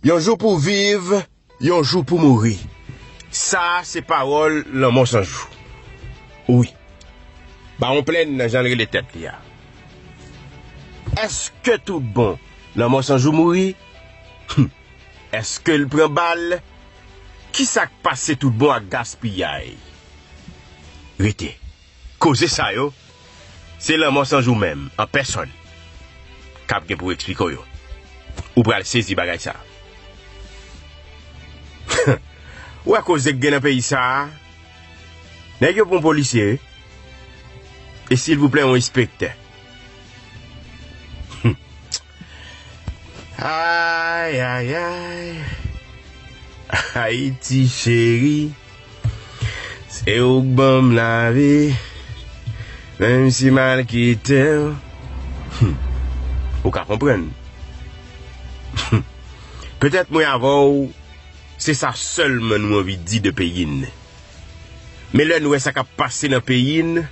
Yon jou pou viv, yon jou pou mouri. Sa a se pawòl lanmò san jou. Wi. Bawon Plenn nan jan l rele tèt li a. Èske tout bon lanmò san jou mouri? Hum! Èske l pran bal? Ki sa k pase tout bon ak gaspiyay? Rete. Koze sa yo, se lanmò san jou menm, an pèsòn, k ap gen pou eksplike w yo. Ou pral sezi bagay sa. Ou wè koze k gen nan peyi sa a? Nèg yo pran polisye, wi. E silvouplè yon enspektè. Ay ay ay Haiti cheri Se ou k banm lavi Menm si mal kitew Ou ka konprann Petèt mwen avèw se sa sèlman nou anvi di de peyi n Men lè n wè sa k ap pase nan peyi n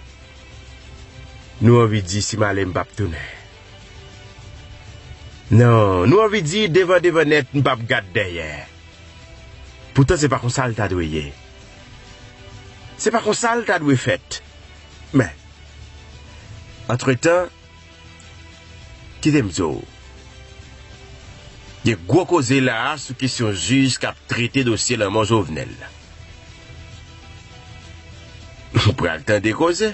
Nou anvi di si m ale m p ap tounen. Non, nou anvi di devan devan nèt m pap gad dèyè. Poutan se pa konsa l ta dwe ye. Se pa konsa l ta dwe fèt. Men, antretan, kite m di w, gen gwo koze la a sou kesyon jij k ap trete dosye lanmò Jovenel la. Ou pral tande koze.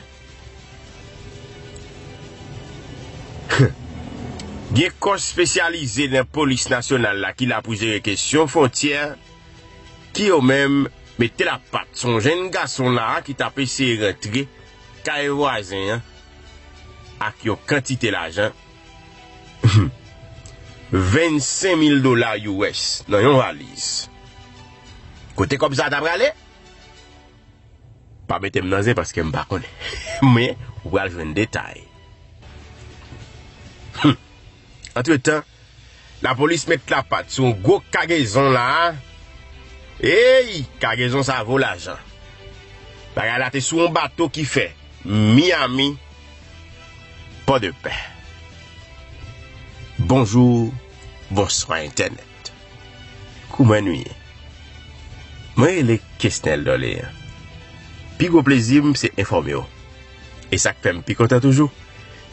Gen kò spesyalize nan polis nasyonal la ki la pou jere kesyon fwontyè ki yo menm mete la pat sou yon jenn gason la a ki tap eseye rantre kay vwazen an ak yon kantite lajan 25 mil dola US nan yon valiz. Kote kòb sa a ta prale? Pa mete m nan zen paske m pa konnen. Men, ou pral jwenn detay. Hum! Antretan, lapolis met lapat sou yon gwo kagezon la a. Ey! Kagezon sa a vo lajan. Bagay la te sou yon bato ki fè Miami, Pòdepè. Bonjou, bonswa entènèt. kou mwen nou ye. Mwen rele Kesnel Dorlean. Pi gwo plezi m se enfòme w. E sa k fè m pi kontan toujou,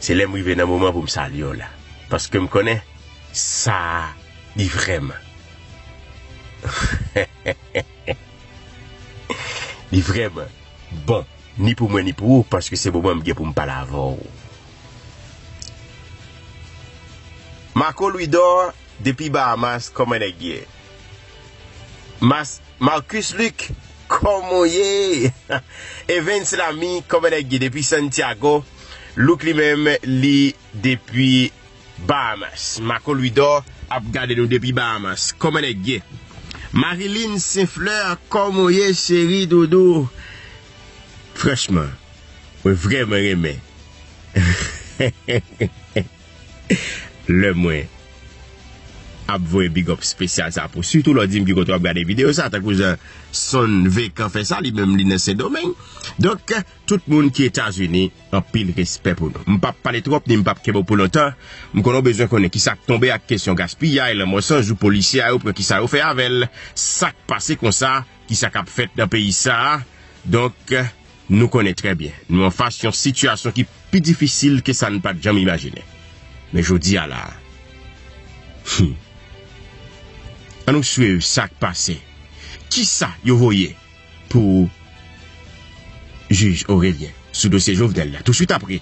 se lè m rive nan moman pou m salye w la. Paske m konnen, sa a li vrèman. Li vrèman bon, ni pou mwen ni pou ou, paske se moman m gen pou m pale avè w. Marco Louidor. depi Bahamas kòman nèg ye? Mas Marcus Luc kòman ou ye? Evens Lamy kòman nèg ye depi Santiago? Luc li menm li depi Bahamas. Marco Louidor ap gade nou depi Bahamas kòman nèg ye? Mariline St Fleur kòman ou ye cheri doudou? Franchman mwen vrèman renmen. Lè mwen ap voye big up spesyal sa pou sitou lè w di m ki kote w ap gade videyo sa tankou jan Son Vekan fè sa li menm li nan Sendomeng donk tout moun ki Etazini anpil respè pou nou. M pap pale twòp ni m pap kenbe w pou lontan m konnen w bezwen konnen kisa k tonbe ak kesyon gaspiyay lanmò san jou polisye a yo pran kisa yo fè avè l sak pase konsa kisa k ap fèt nan peyi sa donk. Nou konnen trè byen nou anfas yon sitiyasyon ki pi difisil ke sa n pa t janm imajinen. Men jodi a la a. Hum. An nou swiv sa k pase. Kisa yo voye pou jij Orelien sou dosye Jovenel la touswit apre?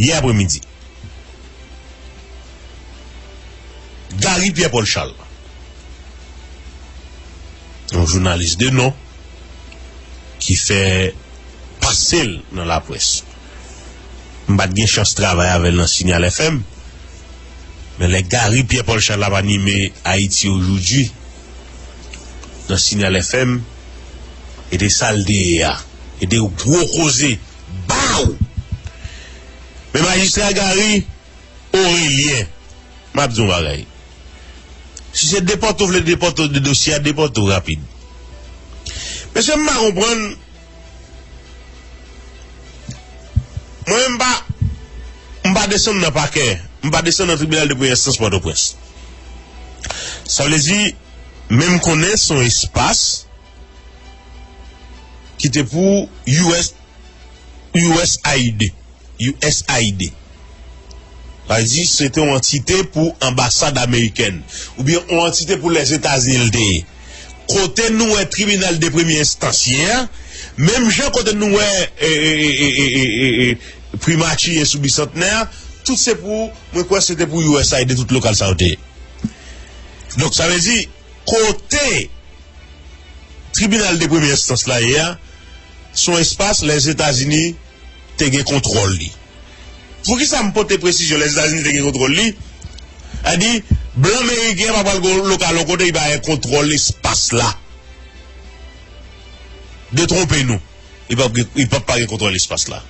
yè apre midi. Gary Pierre Paul Charles, yon jounalis de non ki fè pase l nan laprès, m pa t gen chans travay avè l nan Signal FM, men lè Gary Pierre Paul Charles ap anime Haïti Aujourd'hui nan Signal FM, e de sa l te ye a, e de gwo koze. Baww! Men majistra Gary Orelien, m ap di yon bagay. Si se depòte ou vle depòte de dosye a, depòte ou rapid. Mesye m pa konprann, mwen menm m pa, m pa desann nan pakè, m pa desann nan tribinal de premyè enstans Pòtoprens. Sa vle di, men m konnen se yon espas. ki te pou usaid, usaid, sa vle di se te yon antite pou anbasad amerikèn oubyen yon antite pou Lèzetazini li te ye. Kote nou wè tribinal de premye enstans ye a, menm jan kote nou wè primati ye sou Bisantnè a, tout se pou, mwen kwè se te pou usaid tout lokal sa yo te ye. Donk sa vle di kote Tribinal de premyè enstans la yè a se yon espas Lèzetazini te gen kontwòl li. Poukisa m pote presizyon Lèzetazini te gen kontwòl li? A di, blan meriken pa pral gen lokal yon kote li pa gen kontwòl espas la. Detwonpe nou, li pap gen, li pap pa gen kontwòl espas la.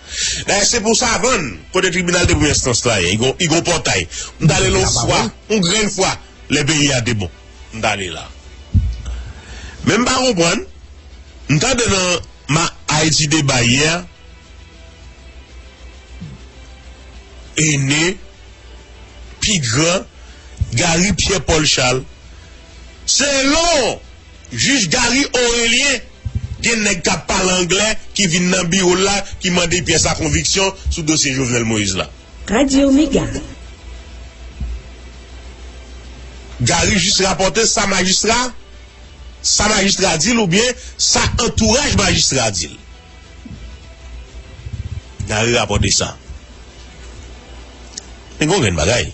Dayè se pou Savann, kote tribinal de premyè enstans la yè, li gen yon pòtay. M t ale la yon fwa, yon grenn fwa, lè peyi a te bon. M tande la men m pa konprann m tande nan ma Haiti deba yè ene pi gran Gary Pierre Paul Charles selon jij Gary Orelien gen nèg kap pale anglè ki vin nan biro l la ki mande pyè sa konviksyon sou dosye Jovenel Moïse la. Radio Mega. Gary jis rapòte sa majistra sa majistra di l oubyen sa antouraj majistra di l. Gary rapòte sa. Men gen yon grenn bagay.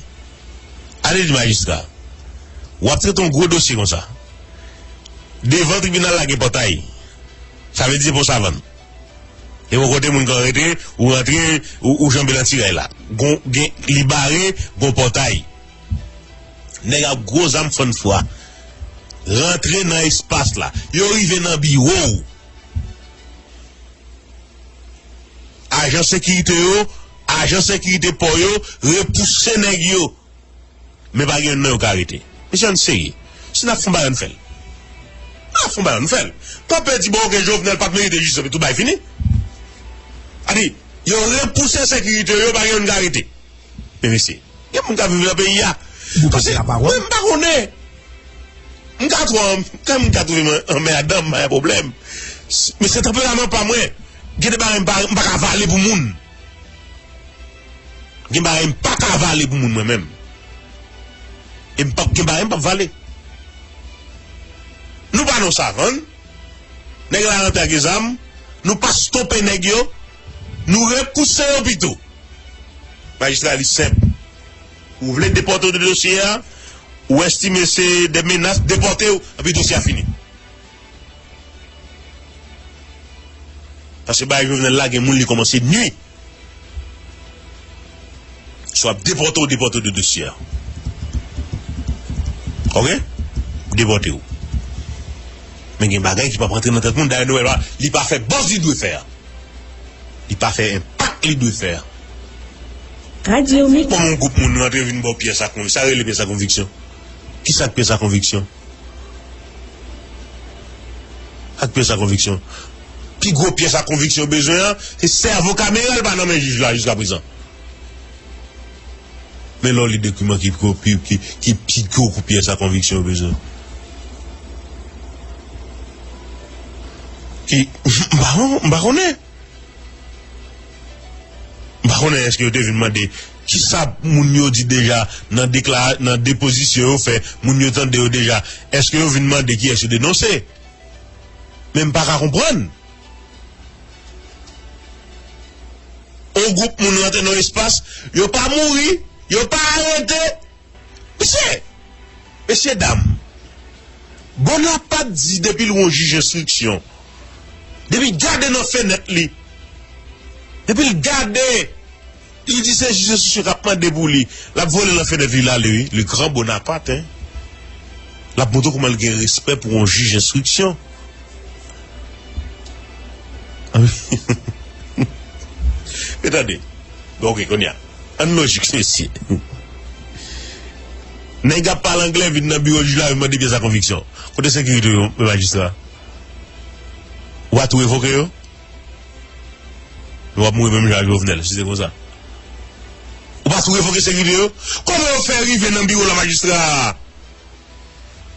Ale di majistra w ap trete yon gwo dosye konsa. Devan tribinal la gen pòtay. Sa vle di se pa yon savann. Ebon kote moun kan rete ou rantre ou janbe nan ti rèy la gon gen li bare gon pòtay nèg ak gwo zam fann fwa rantre nan espas la yo rive nan biwo ou ajan sekirite yo ajan sekirite pò yo repouse nèg yo. Men pa gen youn nan yo ka rete. Mesye ann serye. Si nap fon bagay ann fèl. An nap fon bagay ann fèl. Pa pè di bon ok Jovenel pat merite jistis epi tout bagay fini. A di yo repouse sekirite yo pa gen youn ka rete. Men mesye. Gen moun kap viv nan peyi a. Ou pa gen la pawòl. Mwen pa konnen. M ka twò an kè m ka twouve mwen anmèdan m pa gen pwoblèm. Men se tanperaman pa mwen. Gen de bagay m pa ka vale pou moun. Gen bagay m pa ka vale pou moun mwen menm. E m pap gen bagay m pap vale. Nou pa nan savann. Nèg la rantre ak zam. Nou pa stope nèg yo. Nou repouse yo pito. Majistra li senp. Ou vle depòte w de dosye a, ou estime se de menas, depòte w, epi dosye a fini. Paske bagay Jovenel la gen moun li komanse nwi. Swa ap depote ou depote ou de dosye a. Ok? Depote ou. Men gen bagay ki pa prantre nan tèt moun dayè Noel la li pa fè buzz li dwe fè a. Li pa fè enpak li dwe fè a. Kòman yon gwoup moun rantre vin ba w pyès ak moun. Sa rele pyès ak konviksyon? Kisa k pyès ak konviksyon? Ak pyès a konviksyon. Pi gwo pyès a konviksyon bezwen an, se sèvo kameran l pa nan men jij la jiskaprezan. Men lè w li dokiman ki pi gwo kou pyès a konviksyon bezwen. Ki, m pa konnen. M pa konnen eske yo te vin mande kisa moun yo di deja nan deklara, nan depozisyon yo fè, moun yo tande yo deja, eske yo vin mande kiyès yo denonse? Men m pa ka konprann. On gwoup moun rantre nan yon espas, yo pa mouri, yo pa arete. Mesye! Mesye dam! Bonapat di depi l won jij enstriksyon, depi l gade nan fenèt li, depi l gade, li di se jij enstriksyon k ap mande pou li, l ap vole nan fenèt li, l ale wi. Le gran Bonapat, hein! L ap montre w kouman l gen respè pou yon jij enstriksyon. Anmwe! Men tande! Bon, ok, konnya. Ann lojik mesye. Nèg ap pale anglè vin nan biwo jij la vin mande pyès a konviksyon. Kote sekirite yo men majistra? Ou pa tou revoke yo? Nou ap mouri menm jan ak Jovenel si se konsa. Ou pa tou revoke sekirite yo? Kòman yo fè rive nan biwo la majistra?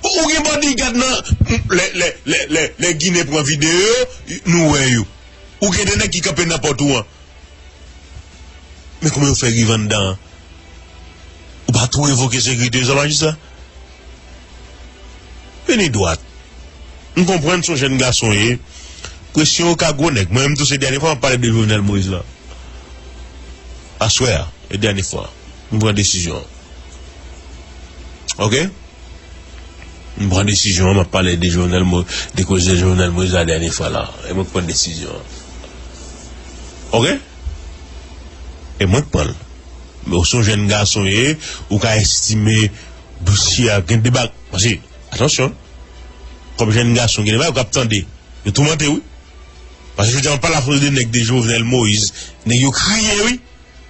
Ou gen bodyguard nan lè ginen pran video yo nou wè yo. Ou gen 2 nèg ki kanpe nan pòt ou an Men kouman yo fè riv anndan an. Ou pa tou revoke sekirite yo sa majistra? Vini dwat. M konprann son jèn gason w ye. Presyon yo ka gwo nèg. Mwen menm tou se dènye fwa map pale de Jovenel Moïse la. Aswè a e dènye fwa m pran desizyon an. Ok. M pran desizyon an, m ap pale de Jovenel Mo, de koze Jovenel Moïse la dènye fwa la. E mwen k pran desizyon an. Ok? E mwen k pran l. Men ou se yon jèn gason e ou ka estime dosye a gen de bag. Pase, atansyon, kòm jèn gason gen de bagay ou ka tande. Yo toumante w wi. Pase jodi a m ap pale ak yon de nèg de Jovenel Moïse, nèg yo kriye wi.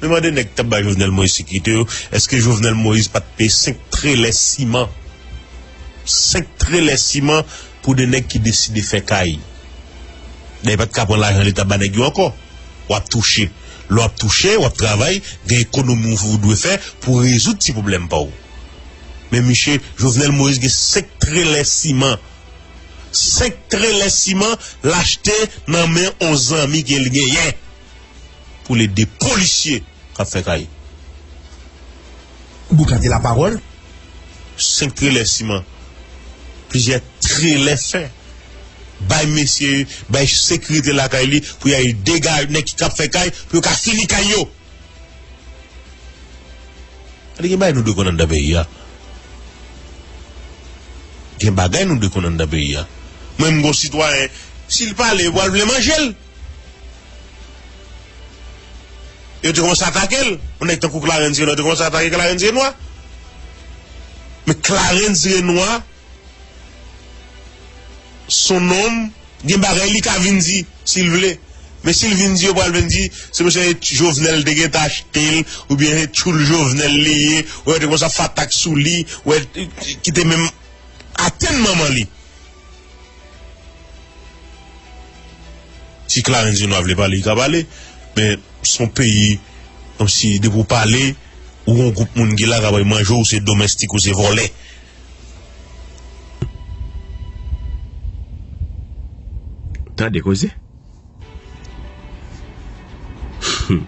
Me mande nèg kap bay Jovenel Moïse sekirite yo eske Jovenel Moïse pat peye 5 trelè siman 5 trelè siman pou 2 nèg ki deside fè kay dayè pat ka pran lajan leta ba nèg yo ankò wap touche lè wap touche wap travay gen ekonomi ou dwe fè pou rezoud ti pwoblèm paw men miche Jovenel Moïse gen 5 trelè siman 5 trelè siman lachte nan men on zanmi kel genyen pou l ede polisye k ap fè kay. Bouk la te lapawòl. Senk trelè siman, plizyè trelè fè, bay mesye, bay sekirite lakay li pou y al degaje nèg ki ap fè kay pou yo ka fini kay yo. Gade gen bagay nou dwe konn anndan peyi a. Gen bagay nou dwe konn anndan peyi a. Mwen menm gen yon sitwayen, si l pale, yo pral vle manje l. Yo te kòmanse atake l. Yon nèg tankou Clarens Renois te kòmanse atake Clarens Renois. Men Clarens Renois son nonm gen bagay li ka vin di si l vle. Men si l vin di yo pral vin di se mesye se Jovenel te gen tan achte l oubyen se tchoul Jovenel li ye. Wè yo te kòmanse ap fè atak sou li. Wè ki te menm atenn manman li. Si Clarencio ta vle pale li ka pale men son peyi kòmsi depi ou pale ou gon gwoup moun ki la kap al manje ou se domèstik ou se vòlè. Tande koze. Humm.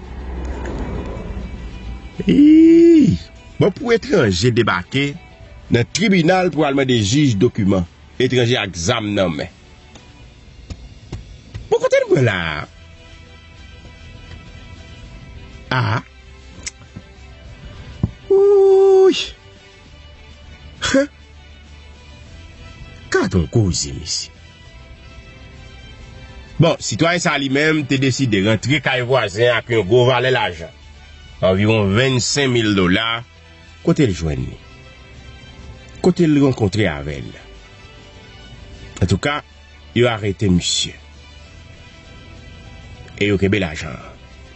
Iiih. Bon pou etranje debake. nan tribinal pou al mande jij dokiman etranje ak zam nan men. Bon kote nou pran la a? A a. Ouyy. He. Kat on koze mesi. Bon, sitwayen sa li menm te deside rantre kay vwazen ak yon gwo vale lajan. Anviron 25 mil dola Kote l jwenn li? Kote l rankontre avè l? Antouka, yo arete misye. E yo kenbe lajan an.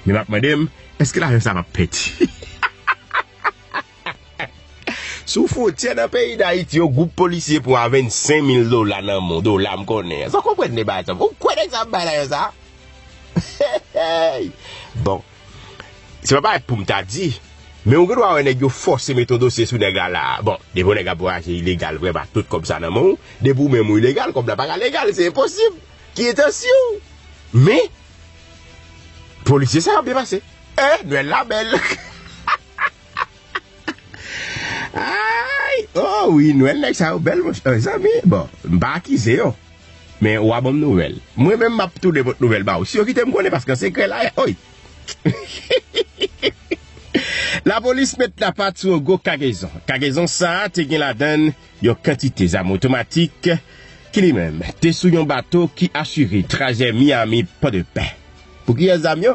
Men m ap mande m, èske lajan sa a p ap pèdi? Sou fwontyè nan peyi Dayiti, yon gwoup polisye pran a 25 mil dola nan men w, dola m konnen an. Èske w konprann deba a, Tom? Ou kwè nèg sa a ap bay lajan sa a? Bon, Se pa bagay poum ta di, men ou gen dwa wè nèg yo fòse met yon dosye sou nèg la la. Bon, depi yon nèg ap vwayaje ilegal vrèman ak tout kòb sa nan men w, depi ou menm ou ilegal, kòb la pa ka legal, se enposib. Ki entansyon w? Men, polisye sa yo ap depase. Eh, Nwèl la bèl! Ayy oh wi nwèl nèg sa yo bèl monchè mezanmi bon m pa akize yo men ou a banm nouvèl mwen menm map tounen pot nouvèl ba ou si yo kite m konnen paske sekrè la oy Lapolis met lapat sou yon gwo kagezon kagezon sa te gen ladann yon kantite zam otomatik ki li menm te sou yon bato ki asire trajè Miami Pòdepè pou kiyès zam yo?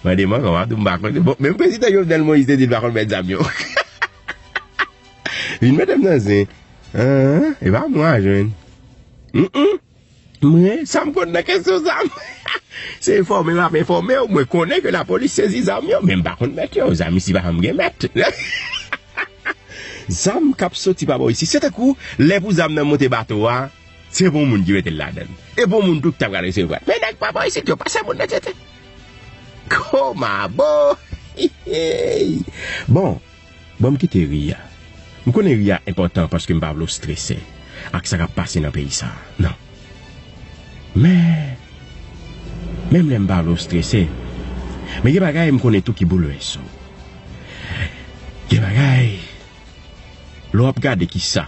Mande manman w a tou m pa konnen. Bon, menm prezidan Jovenel Moïse te di l pa konn mèt zam yo. Vin mete m nan zen. An, e pa mwen a jwenn. Mkm. Mwen, sa m konn nan kesyon zam. Se enfòme m ap enfòme w, mwen konnen ke lapolis sezi zam yo, men m pa konn mèt yo. Zam isi pa janm gen mèt. Zam k ap soti pa bò isi. Se tankou lè pou zam nan monte bato a. Se bon moun ki mete l ladan l. E bon moun tou ki ta pral resevwa l. Men nèg pa bò isit yo pa se moun nan tete. Komabo! Hihey! Bon, ban m kite ri a. M konnen ri a enpòtan paske m pa vle w strese ak sa k ap pase nan peyi sa a. Non. Men, menm lè m pa vle w strese, men gen bagay m konnen tou ki boulvèse w. Gen bagay, lè w ap gade kisa.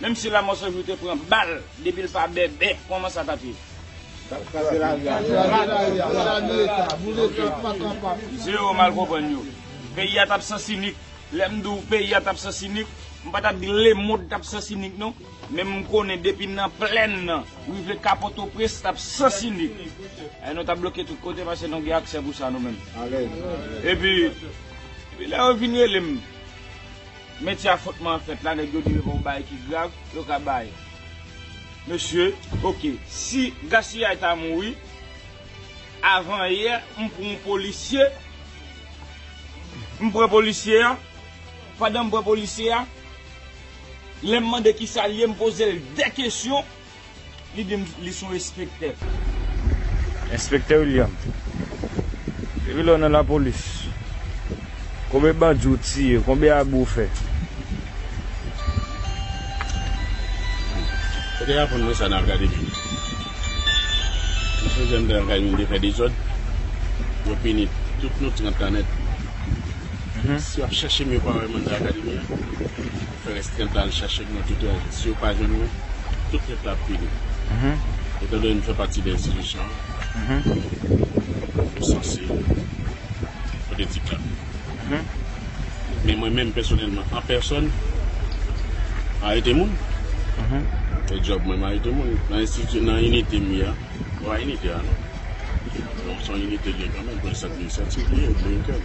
Menm si lamò sanjou te pran bal depil pa bèbè kòman sa tap ye. Kraze lari a. Kraze lari a. Sali leta. Boule tout pa kan pa. Zero mal konprann yo. Peyi a tap sansinik. Lèm diw peyi a tap sansinik. M pa tap di lemond tap sansinik non. Men m konnen depi nan plèn nan rive ka potoprens tap sansinik. Eeh nou tap bloke tout kote pase nou gen aksè pou sa nou menm. Alèz. Epi lè yo vin relem. Metye afwontman fèt la nèg yo di epa yon bagay ki grav yo ka bay mesye ok si gaspillay ta mouri avan yè m pran yon polisye m pran polisye a pandan m pran polisye a lèm mande kisal ye m pozel de kesyon. Li di m li son espektè. Enspektè William, depi lè w nan lapolis, konbe bandi w tiye, konbe abi w fè? Ou te raponn mwen sa nan Alkadè Bini. Mesye jèn nan Alkadè Bini te fè dezòd, yo pini tout nou 30 tan nèt. Si w ap chèche m yo pa wè m anndan Akademi an. Fè restrent la al chache gwo tete a. Si yo pa jwenn mwen, tout nèt la ap pini. Etan done m fè pati de enstitisyon an, yo sanse pote ti klè. Men mwen menm pèsonèlman, an pèsòn, m arete moun. Se djòb mwen, m arete moun. Nan enstiti, nan inite m ye a, se pa inite a non. Bon, se yon inite l ye kanmenm, pou enstati, se yon inite l ye, l ye entenn.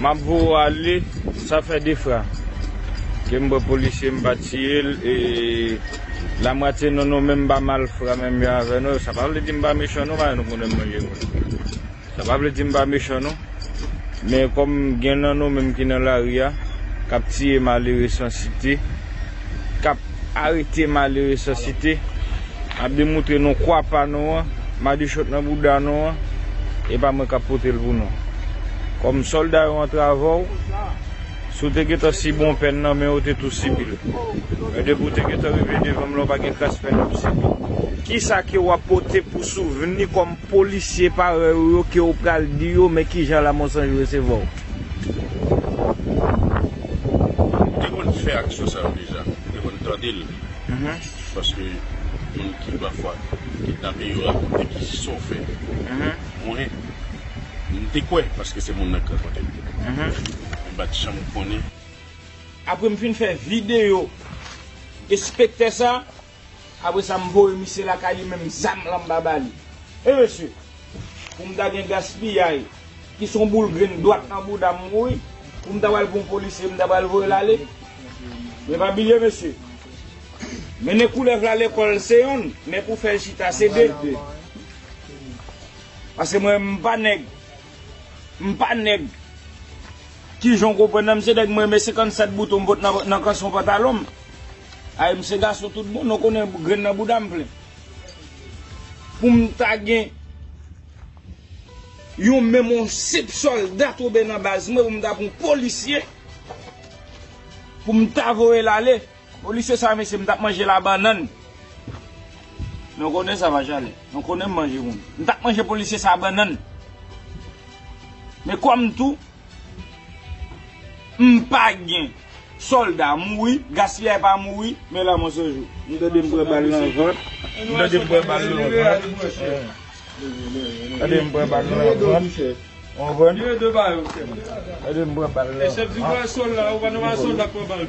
Map voye w ale sa fè 2 fra ke m bwe polisye m pa tiye l e lamwatye nou nou menm pa mal fra menm jan avè nou sa pa vle di m pa mechan non paske nou konnen m manje moun sa pa vle di m pa mechan non men kòm gen nan nou menm ki nan lari a kap tiye malere san site. kap arete malere san site, ap demoutre nou kwa pa nou an, madichon nan bouda nou an, e pa mwen kap pote l pou nou. Kòm sòlda yo antrave w, si w te gentan sibi yon pèn nan men yo, w te tou sibi l. Men depi w te gentan rive devan m la, w pa gen kras pèn wap sibi. Kisa ke wap pote pou souvni kòm polisye parèy ou yo ke w pral di yo men kijan Lamonsanj resevwa w? M te konn fè aksyon sa yo deja, m te konn tande l paske moun ki pafwa kidnape yo rakonte ki jan sa w fè mwen, m te kwè paske se moun nan ki rakonte m men m pa t janm konnen. Apre m fin fè videyo enspektè sa, Apre sa m voye misye lakay li menm zam lan m pa ba li. He mesye! Pou m ta gen gaspiyay ki son boul grenn dwat nan bouda m wi pou m ta pral pran yon polisye m ta pral voye l ale. Men pa bliye mesye! Mennen koulèv la lekòl se yonn men pou fè l chita se de. Pase mwen menm m pa nèg M pa nèg. Kijan w konprann nan m se nèg m renmen 57 bouton m pot nan kanson pantalon m. Ay m se gason tout bon non konnen grenn nan bouda m plen. Pou m ta gen yon menm yon senp sòlda tonbe nan baz mwen pou m ta pran yon polisye pou m ta voye l ale. Polisye sa mesye m tap manje la bannann Nou konnen sa pa chale Nou konnen m manje moun M tap manje polisye sa bannann Men kòm tou M pa gen Solda mouri Gaspillay pa mouri Men lanmò se jou M tande m pran bal nan vant M tande m pran bal nan vant M tande m pran bal nan vant Ou konprann M tande m pran bal nan vant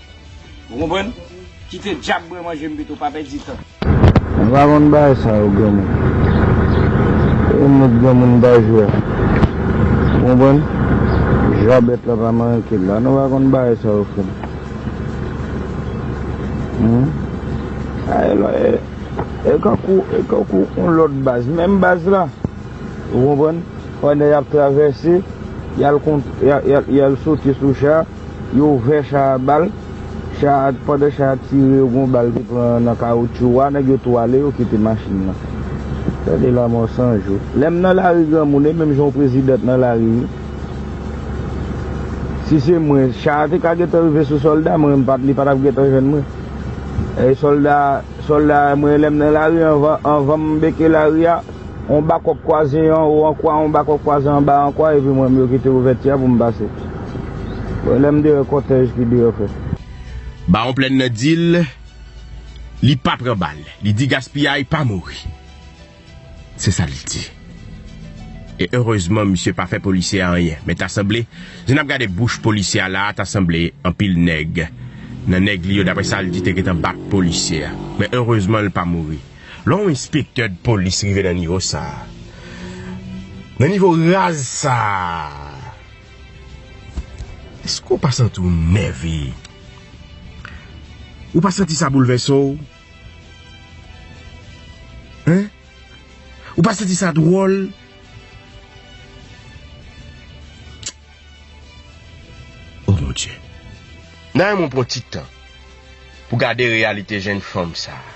Ou konprann? Kite djab bwe manje m pito, pa pèdi tan. M pa konn bagay sa yo granmoun. Se yon lòt granmoun m ta jwe a. Ou konprann? Jwabèt la pa manke la. Nou pa konn bagay sa yo frè m. Humm. A e lò e, e kankou, e kankou yon lòt baz. Menm baz la. Ou konprann? Pandan y ap travèse, y al kont, y al, y al sote sou cha. Yo ouvè cha a bal, cha a pandan cha a tire yo gon bal ki pran nan kawoutchou wa nèg yo tou ale yo kite machin nan. Tande lamò san jou. Lèm nan lari granmoun e menm jan w president nan lari wi. Si se mwen cha a te ka gentan rive sou solda mwen mpa li patap gentan jwenn mwen. E solda solda mwen lèm nan lari anvan anvanm beke lari a. Yon bakòp kwaze an wo an kwa, yon bakòp kwaze an ba an kwa, epi mwen menm yo kite ouvèti a pou m pase. Bon, lè m deyò, kòtèj ki deyò fè. Bawon Plèn nan di l li pa pran bal. Li di gaspiyay pa mouri. Se sa l di. E erezman misye pa fè polisye a anyen. Men ta sanble, jan n ap gade bouch polisye a la a, ta sanble anpil nèg nan nèg li yo, daprè sa l di, te gentan bat polisye a. Men erezman l pa mouri. Lè yon enspektè dpolis rive nan nivo sa a, nan nivo raz sa a, èske ou pa santi w nève? Ou pa santi sa boulvèse w? Hein? Ou pa santi sa dwòl? O mon Dye! Nan yon moun pran ti tan pou gade reyalite jenn fanm sa a.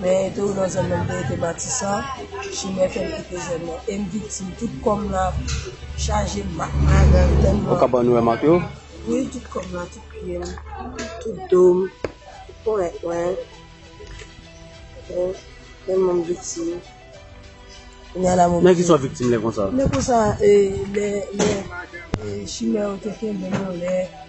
men e tou nan zòn nan m te rete Matisan, chimè fè m kite zòn nan e m viktim tout kò m la chaje mak magann tèlman. Ou kapab wè mak yo? Wi tout kò m la, tout pye m, tout do m, tout ponyèt mwen, ok, tèlman m viktim. Kounya la m oblije. Nan kisa w viktim lè konsa? Lè konsa e lè chimè yo te kenbe m anlè.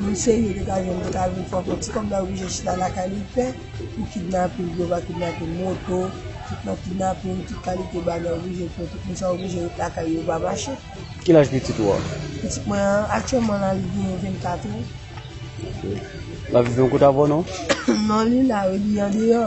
Yon seri de ka jèn ki ta vin fè yon fo ti kòb la oblije chita lakay li pè pou kidnapin, yo va kidnape moto, tout nan kidnapin, tout kalite bagay oblije fè, tout moun sa yo oblije ret lakay yo, yo pa mache. Ki laj pitit ou a? Pitit mwen an, aktyèlman la li genyen 24 an. Ok. L ap viv yon kote avè w non? Non li la wi, li andeyò.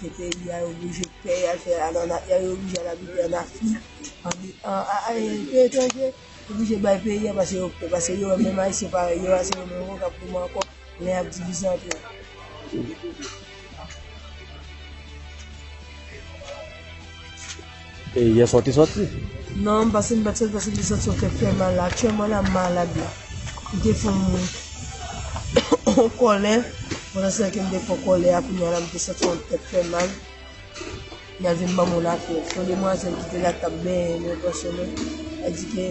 Kite peyi a yo bouje pè yal fè a nan ya yo bouje al abite an afrik an peyi etranje yo bouje bay peyi a pase yo pè pase yo wè menm ayisyen parèy yo a se yo menm kap goumen ankò lè yap divize antre yo. E yèswa w te sòti? Non, m pase m pa t sòti paske m te santi yon tèt fè mal. Aktyèlman la m malad la. M te fon yon kòlè pandan se tan ke m te fon kòlè a kounya la m te santi yon tèt fè mal. M al vin ban m yon lapyèt. Yon demwazèl ki te la ki t ap benyen m, yon pwòsyon mwen, mwen di ke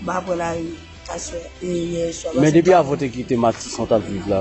m pa pran lari aswè e yèswa. Men depi avan w te kite Matisan w t ap viv la?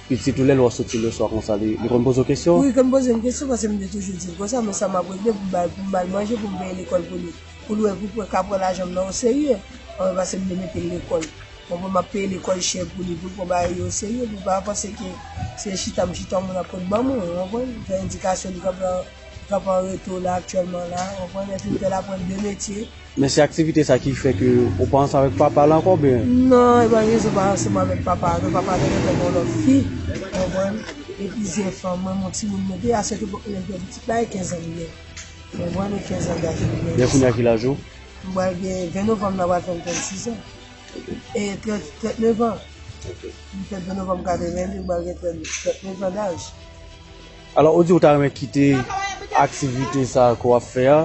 Pitit ou lè l wè w soti leswa konsa li konn poze w kesyon? Wi li konn poze m kesyon paske m te toujou di l konsa men sa m ap regle pou m ba l pou m ba l manje pou m peye lekòl pou li pou l wè pou l ka pran lajan m nan o serye konprann paske m te mete l lekòl konprann m ap peye lekòl chè pou li pou l pran bagay yo o serye pou l pa panse ke se chita m chita w moun ap konn ban mwen ou konprann m fè edikasyon li konprann. Kap an reto la aktyèlman la. Ou konprann lè finn fè l aprann 2 metye. Men se aktivite sa ki fè ke ou pa ansanm avèk papa l ankò oubyen? Non e pa gen rezon pa ansanm avèk papa l non. Papa l te gentan gen yon lòt fi. Ou konprann? Gen plizyè fanm. Mwen m yon timoun mwen te aswete pou lè m te pitit la e 15 an m gen. Ou konprann e 15 an gason m gen. Men kounya ki laj ou? M pral gen 20 novanm nan pral fè m 36 an. E 39 an. M fèt 20 novanm 82 m pral gen 39 an daj. Alò ou di ou ta renmen kite aktivite sa ke w ap fè a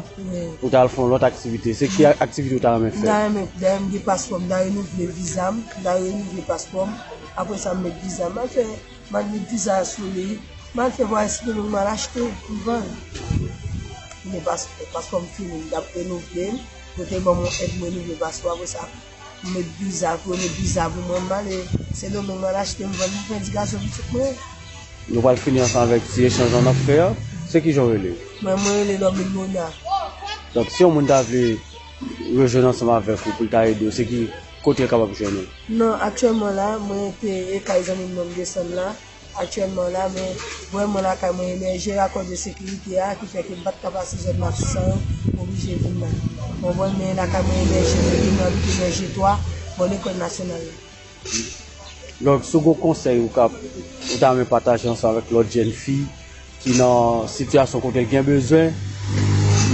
pou w ta al fè yon lòt aktivite. Se ki aktivite ou ta renmen fè? M ta renmen, dayè m gen paspò, m ta renouvle viza m, m ta renouvle paspò m, apre sa m met viza m. M al fè, m al met viza a sou li, m al fè vwayaj sino m al achte pou m vann. M gen paspò, paspò m fini, m ta renouvle l, yo te ban m yon èd m renouvle paspò apre sa. M met biza pou yo met biza pou mwen M ale sendomeng m al achte m vann m pran ti gason pitit mwen. Nou pral fini ansanm avèk ti echanj lan nap fè a se kijan ou rele? Mwen mwen rele Normil Mona. Donk si yon moun ta vle rejwenn ansanm avèk ou poul ta ede ou se ki kotel kapab jwenn ou? Nan aktyèlman la mwen te e kay zanmim nan m desann la Aktyèlman la, mwen wè mwen lakay mwen emèje akòz de sekirite a ki fè ke m pa t ka pase zòn Matisan yo, m oblije vin la. Mwen wè men lakay mwen emèje depi mwen abite Vèje 3, bò lekòl nasyonal la. Donk, si w gen yon konsèy ou ta renmen pataje ansanm avèk lòt jèn fi? ki nan sitiyasyon kote l gen bezwen,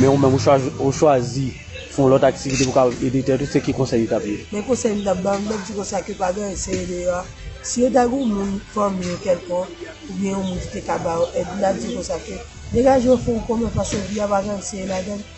men ou menm ou chwazi fè yon lòt aktivite pou w kapab ede tèt ou, se ki konsèy ou t ap di? Men konsèy m t ap ba, m t ap di kon sa ke pa gen anyen serye deyò a, si yo ta gen yon moun, fanmi yo kèlkonk, oubyen yon moun ki te ka ba yo èd, m t ap di yo kon sa ke degaje w fè yon konbyen paske vi a pa gen anyen serye ladan l.